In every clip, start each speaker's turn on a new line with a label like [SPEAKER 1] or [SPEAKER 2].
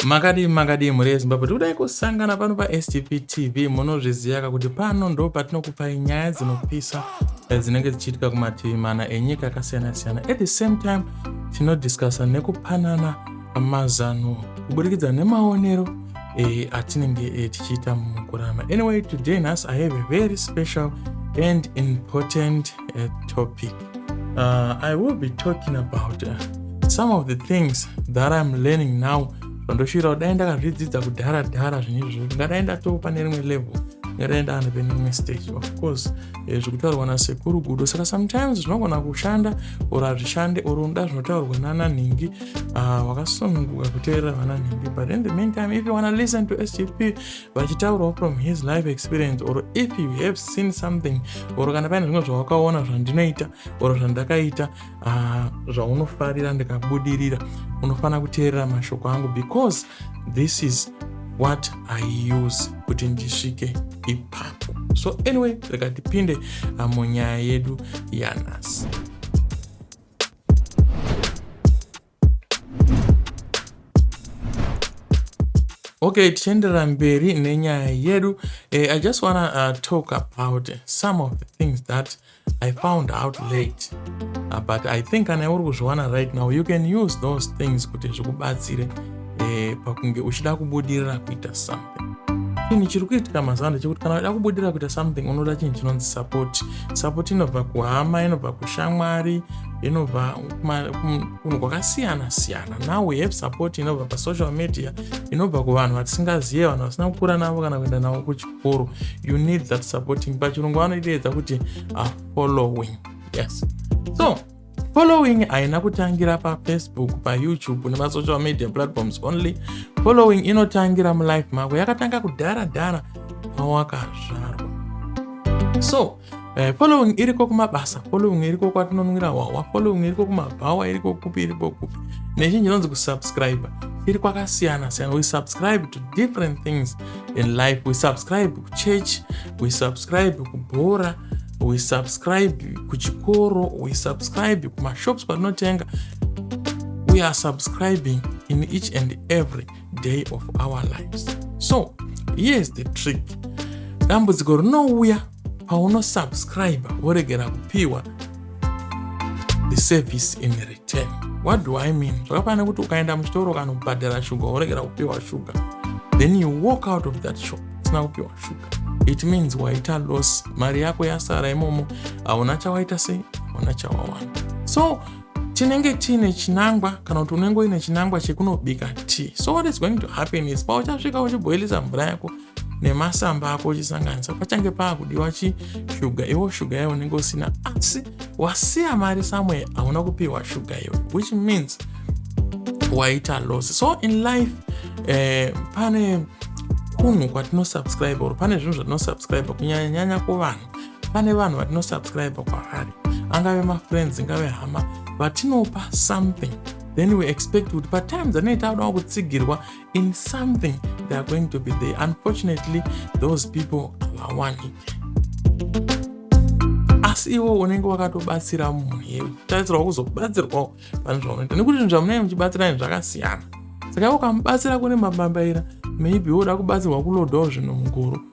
[SPEAKER 1] makadii makadii mhuri yezimbabwe tikudai kusangana pano pastp tv munozviziyaka kuti pano ndo patinokupai nyaya dzinopisa eh, dzinenge dzichiitika kumativi mana enyika akasiyana siyana at the same time tinodiscussa nekupanana mazano kuburikidza nemaonero eh, atinenge eh, tichiita mukurama anyway today nhasi i have a very special and important eh, topic uh, i will be talking about uh, some of the things that i'm learning now zvandoshuira kudai ndakazvidzidza kudhara dhara zvinezvo ngadai ndatoo pane rimwe level ngadai ndaana pane rimwe stage of course eh, zvekutaurwa nasekuru gudo saka sometimes zvinogona kushanda or hazvishande or unoda zvinotaurwa nana nhingi ah, wakasununguka kuteerera vana nhingi but in the meantime if you wanna listen to sgp vachitaurawo from his life experience or if you have seen something or kana paine zvimwe zvawakaona zvandinoita or zvandakaita ah, zvaunofarira ndikabudirira unofanira kuteerera mashoko angu because this is what i use kuti ndisvike ipapo so anyway rega tipinde ah, munyaya yedu yanhasi Okay, tichienderera mberi nenyaya yedu uh, I just wanna uh, talk about some of the things that I found out late uh, but I think kana uri kuzviwana right now you can use those things kuti zvikubatsire uh, pakunge uchida kubudirira kuita some chinhu chiri kuitika mazuva ano chekuti kana uda kubudira kuita something unoda chinhu chinonzi support support inobva kuhama inobva kushamwari inobva kunhu kwakasiyana siyana now we have support inobva pasocial media inobva kuvanhu vatisingazive vanhu vasina kukura navo kana kuenda navo kuchikoro you need that supporting pachirungu vanoiteedza kuti afollowing yes so Following haina kutangira pafacebook, payoutube nemasocial media platforms only. Following inotangira mulife mako, yakatanga kudhara dhara pawakazvarwa. So eh, following iriko kumabasa, following iriko kwatinonwira hwahwa, following iriko kumabhawa, iriko kupi, iriko kupi. Nezhinji inonzi kusubscribe iri kwakasiyana siyana. We subscribe to different things in life. We subscribe kuchurch, we subscribe kubhora we subscribe kuchikoro we subscribe kumashops patinotenga we are subscribing in each and every day of our lives so here is the trick dambudziko rinouya paunosubscribe voregera kupiwa the service in return what do i mean zvakafanira kuti ukaenda muchitoro kana kubhadhara shuga woregera kupiwa shuga then you walk out of that shop usina kupiwa shuga it means waita loss mari yako yasara imomo hauna chawaita sei hauna chawawana so tinenge tiine chinangwa kana kuti unenge uine chinangwa chekunobika tea so what is going to happen is pauchasvika uchiboilisa mvura yako nemasamba ako uchisanganisa pachange paakudiwa chishuga iwo shuga yayo unenge usina asi wasiya mari somewhere hauna kupiwa shuga iwe which means waita loss so in life eh, pane kunhu kwatinosubscribe or pane zvinhu zvatinosubscribe kunyanyanyanya kuvanhu pane vanhu vatinosubscribe kwavari angave mafriends ingave hama vatinopa something then we expect kuti patime dzanei taakudawo kutsigirwa in something they are going to be there unfortunately those people havawani asi iwo unenge wakatobatsira munhu ye tarisirwa kuzobatsirwawo pane zvaunoita nekuti zvinhu zvamunenge muchibatsirani zvakasiyana saka ukamubatsira kune mabambaira maybe woda kubatsirwa kulodawo zvinhu muguru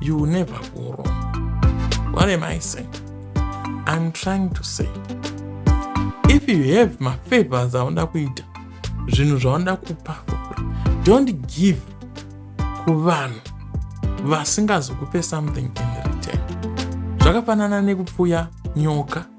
[SPEAKER 1] you will never go wrong what am i saying i'm trying to say if you have mafavors aunoda kuita zvinhu zvaunoda kupa don't give kuvanhu vasingazokupe something in return zvakafanana nekupfuya nyoka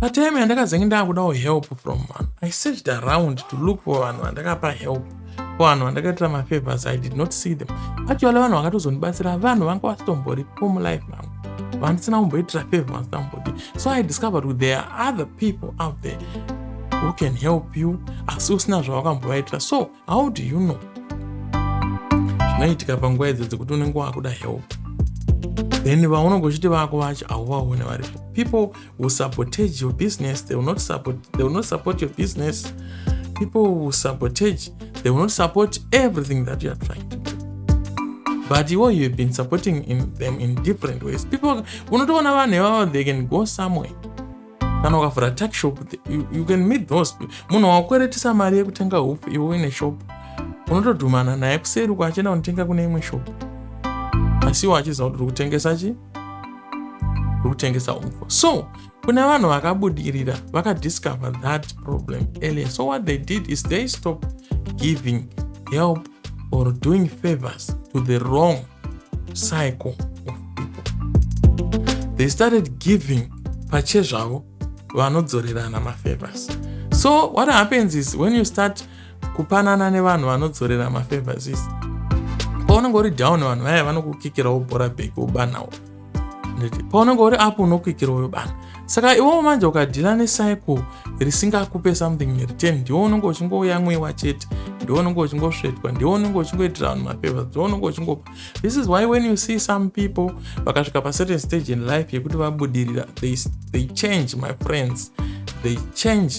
[SPEAKER 1] Patime yandakazenge ndakudawo help from vanhu, I searched around to look for vanhu vandakapa help vanhu vandakaitira mafavors i did not see them actually vanhu vakatozondibatsira vanhu vanga vasitomboripo mulife mangu vandisina kumboitira favor vandisina kumbodi so i discovered with there are other people out there who can help you asi usina zvavakambovaitira so how do you know zvinoitika panguva idzo dzekuti unenge wakuda help then vaunenge uchiti vako vacho hauvaone varipo people will sabotage your business they will not support, they will not support your business people will sabotage they will not support everything that you are trying to do but iwo you've been supporting in them in different ways people unotoona vanhu ivavo they can go somewhere kana ukavhura tuck shop you, you can meet those munhu wakweretisa mari yekutenga hope iwe uine shop unotodhumana naye kuseri uko achienda kunotenga kune imwe shop asi iwo achiziva kuti uri kutengesa chi uri kutengesa umfo so kune vanhu vakabudirira vakadiscover that problem earlier so what they did is they stop giving help or doing favors to the wrong cycle of people they started giving pachezvavo vanodzorerana mafavors so what happens is when you start kupanana nevanhu vanodzorera mafavors is paunenge uri down vanhu vaya vanokukikirawo bhora bheki wobanhawo paunenge uri apo unokwikira uyo bana saka iwewo manje ukadhila necycle risingakupe something in return ndiwo unenge uchingouya mwewa chete ndiwo unenge uchingosvetwa ndiwo unenge uchingoitira vanhu mapeva ndiwo unenge uchingopa this is why when you see some people vakasvika pacertain stage in life yekuti vabudirira they, they change my friends they change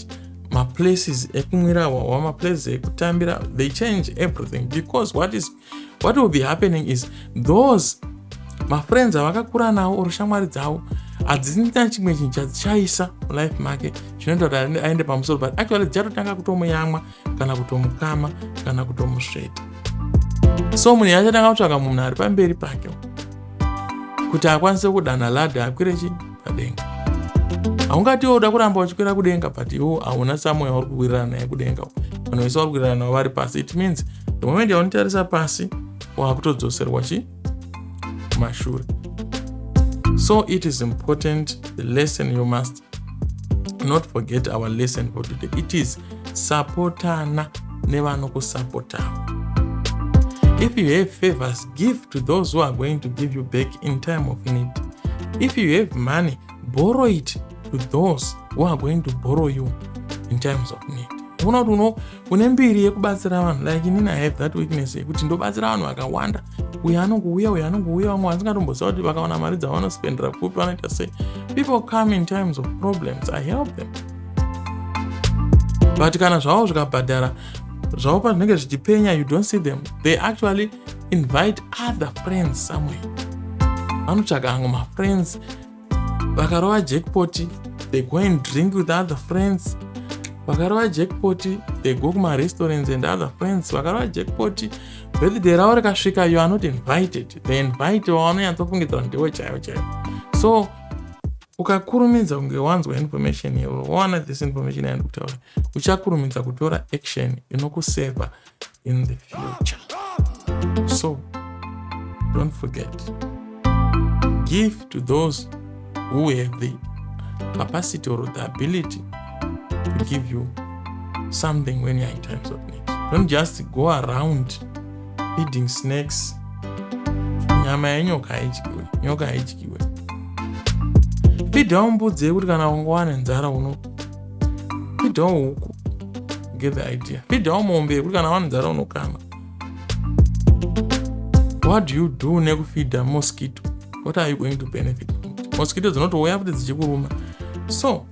[SPEAKER 1] maplaces ekumwira wawa maplaces ekutambira they change everything because what is what will be happening is those mafriends avakakura nawo or shamwari dzavo hadzina chimwe chinhu chadzishaisa mulife make zvinoita kuti aende pamusoro but actually dzichatotanga kutomuyamwa kana kutomukama kana kutomusveta so munhu yachatanga kutsvaka munhu ari pamberi pake kuti akwanise kudana ladha akwire chii padenga haungati iwe uda kuramba uchikwira kudenga but iwo hauna samoya uri kuwirirana naye kudenga vanhu vese vari kuwirirana navo vari pasi it means the moment yaunitarisa pasi waakutodzoserwa chi mashure so it is important the lesson you must not forget our lesson for today it is sapotana nevanokusapotawo if you have favors give to those who are going to give you back in time of need if you have money borrow it to those who are going to borrow you in times of need uona kuti uno une mbiri yekubatsira vanhu like inini i have that weakness yekuti ndobatsira vanhu vakawanda uyo anongouya uyo anongouya vamwe vasingatomboziva kuti vakawana mari dzavanospendera kupi vanoita sei people come in times of problems i help them but kana zvavo zvikabhadhara zvavo pazvinenge zvichipenya you don't see them they actually invite other friends somewhere vanotsvaga hangu mafriends vakarova jackpoti they go and drink with other friends vakarova jackpoti they go kumarestaurants and other friends vakarova jackpoti birthday ravo rikasvika you are not invited they invite wavanonyatsofungidzira ndiwo chaivo chaivo so ukakurumidza kunge wanzwa information iyoyo wawana this information yandi kutaura uchakurumidza kutora action inokuseva in the future so don't forget give to those who have the capacity or the ability to give you something when you're in times of need don't just go around feeding snakes nyama yenyoka haidyiwe nyoka haidyiwe fidhawo mbudzi yekuti kana ungowana nzara uno fidhawo huku get the idea fidhawo mombe yekuti kana wana nzara unokana what do you do nekufidha mosquito what are you going to benefit mosquito dzinotouya futi dzichikuruma so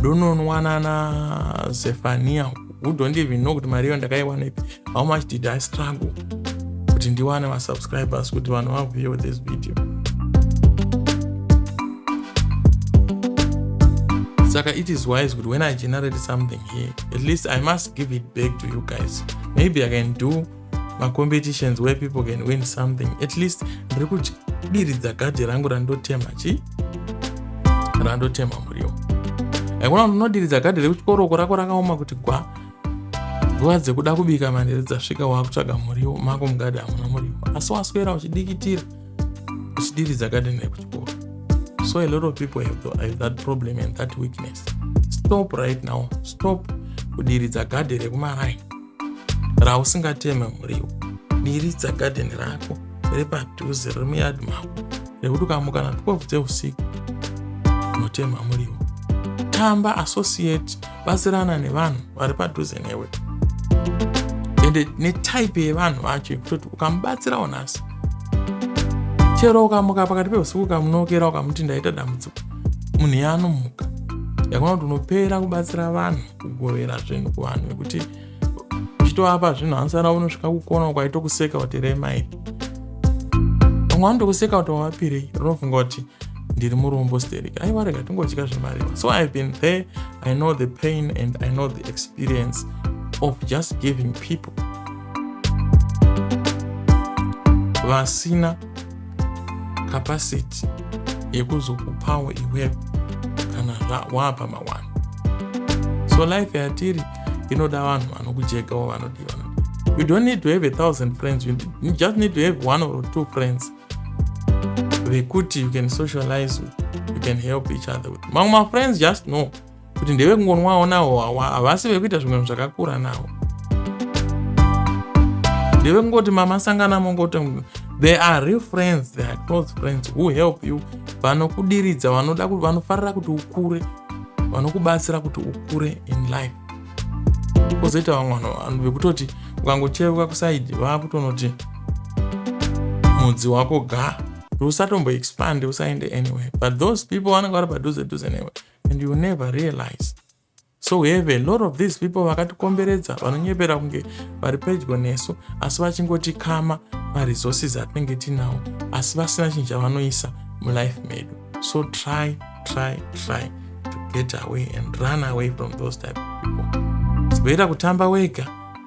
[SPEAKER 1] ndononwanana zefania who don't even know kuti mari iyo ndakaiwana ipi how much did i struggle kuti ndiwane vasubscribers kuti vanhu vavuye with this video saka it is wise kuti when i generate something here at least i must give it back to you guys maybe i can do macompetitions where people can win something at least ndiri kudiridza gadhi rangu randotema chi randotema muriwo aikona unodiridza gadhi rekuchikoro uko rako rakaoma kuti gwa nguva dzekuda kubika manhere dzasvika wakutsvaga muriwo mako mugadhi hamuna muriwo asi waswera uchidikitira uchidiridza gadhi rekuchikoro so a lot of people have, the, have that problem and that weakness stop right now stop kudiridza gadhi rekumaraini rausingateme muriwo diridza gadheni rako riri padhuze riri muyadi mako rekuti ukamuka na 12 dzeusiku unotema muriwo tamba associate batsirana nevanhu vari padhuze newe ende netype yevanhu vacho yekutoti ukamubatsirawo nhasi chero ukamuka pakati peusiku ukamunokera ukamuti ndaita dambudziko munhu yaanomuka yakona kuti unopera kubatsira vanhu kugovera zvinhu kuvanhu nekuti uchitovapa zvinhu hansana unosvika kukona ukaitokuseka kuti rema iri vamwe vanotokuseka kuti wavapirei rinofunga kuti ndiri murombo sterek aiwa rega tingodya zvemariva so ihave been there i know the pain and i know the experience of just giving people vasina capacity yekuzokupawo iwe kana waapa mawani so life yatiri inoda vanhu vanokujegawo vanodii vanodii you don't need to have a thousand friends you just need to have one or two friends vekuti you can socialize with you can help each other with mamwe mafriends just know kuti ndevekungonwawo nawo wawa havasi vekuita zvimwe zvakakura nawo ndevekungoti mama sangana mongoti they are real friends they are close friends who help you vanokudiridza vanoda vanofarira kuti ukure vanokubatsira kuti ukure in life kozoita vamwe vanhu vekutoti ukangocheuka kusaidi vakutonoti mudzi wako ga usatomboexpande usaende anyway but those people vanenge vari padhuze dhuze newe and you never realize so we have a lot of these people vakatikomberedza vanonyepera kunge vari pedyo nesu asi vachingotikama maresources atinenge tinawo asi vasina chinhu chavanoisa mulife medu so try try try to get away and run away from those type of people zigoita kutamba wega